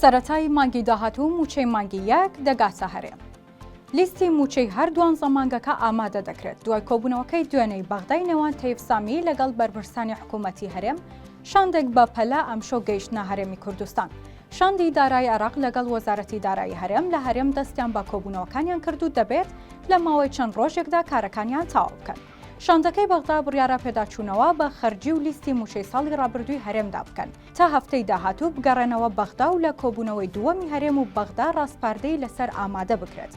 سەرەتای مانگی داهاتوو مووچەی مانگی یەک دەگاتە هەرێم. لیستی مووچەی هەر دوانزە مانگەکە ئامادە دەکرێت، دوای کۆبوونەوەکەی دوێنێی بەغدای نێوان تەیف سامی لەگەڵ بەرپرسانی حکوومەتی هەرێم، شاندێک بە پەلە ئەمشەو گەیشتنە هەرێمی کوردستان. شاندی دارایی عێراق لەگەڵ وەزارەتی دارایی هەرێم لە هەرێم دەستیان بە کۆبوونەوەکانیان کرد و دەبێت لە ماوەی چەند ڕۆژێکدا کارەکانیان تەواو بکەن. شاندەکەی بەغدا بڕیارە پێداچوونەوە بە خەرجی و لیستی مووچەی ساڵی ڕابردووی هەرێمدا بکەن، تا هەفتەی داهاتوو بگەڕێنەوە بەغدا و لە کۆبوونەوەی دووەمی هەرێم و بەغدا ڕاسپاردەی لەسەر ئامادە بکرێت.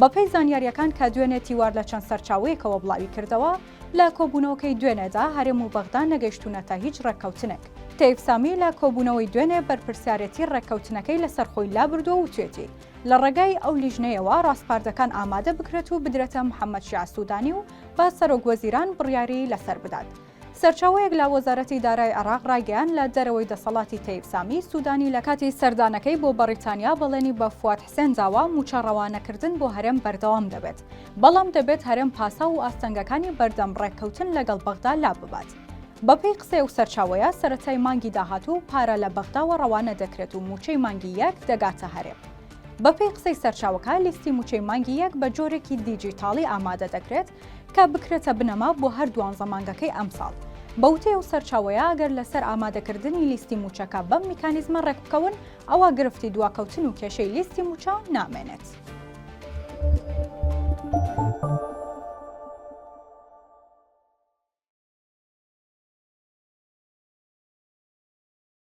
بەپێی زانیارییەکان کە دوێنێ تیوار لە چەند سەرچاوەیەکەوە بڵاوی کردەوە، لە کۆبوونەوەکەی دوێنێدا هەرێم و بەغدا نەگەیشتوونەتە هیچ ڕێککەوتنێک. تەیف سامی لە کۆبوونەوەی دوێنێ بەرپرسیارێتی ڕێککەوتنەکەی لەسەر خۆی لابردووە و وتوێتی، لە ڕێگای ئەو لیژنەیەوە ڕاسپاردەکان ئامادە بکرێت و بدرێتە محەممەد شیاع سوودانی و با سەرۆکوەزیران بڕیاری لەسەر بدات. سەرچاوەیەک لە وەزارەتی دارای عێراق ڕایگەیاند، لە دەرەوەی دەسەڵاتی تەیب سامی، سودانی لە کاتی سەردانەکەی بۆ بەڕیتانیا بەڵێنی بە فواد حسێن داوە، مووچە ڕەوانەکردن بۆ هەرێم بەردەوام دەبێت، بەڵام دەبێت هەرێم پاساو و ئاستەنگەکانی بەردەم ڕێککەوتن لەگەڵ بەغدا لاببات. بەپێی قسەی ئەو سەرچاوەیە، سەرەتای مانگی داهاتوو پارە لە بەغداوە ڕەوانە دەکرێت و مووچەی مانگی یەک دەگاتە هەرێم. بەپێی قسەی سەرچاوەکە، لیستی مووچەی مانگی یەک بە جۆرێکی دیجیتاڵی ئامادە دەکرێت، کە بکرێتە بنەما بۆ هەر دوانزە مانگەکەی ئەمساڵ. بە وتەی ئەو سەرچاوەیە، ئەگەر لەسەر ئامادەکردنی لیستی مووچەکە بەم میکانیزمە ڕێکبکەون، ئەوا گرفتی دواکەوتن و کێشەی لیستی مووچە نامێنێت.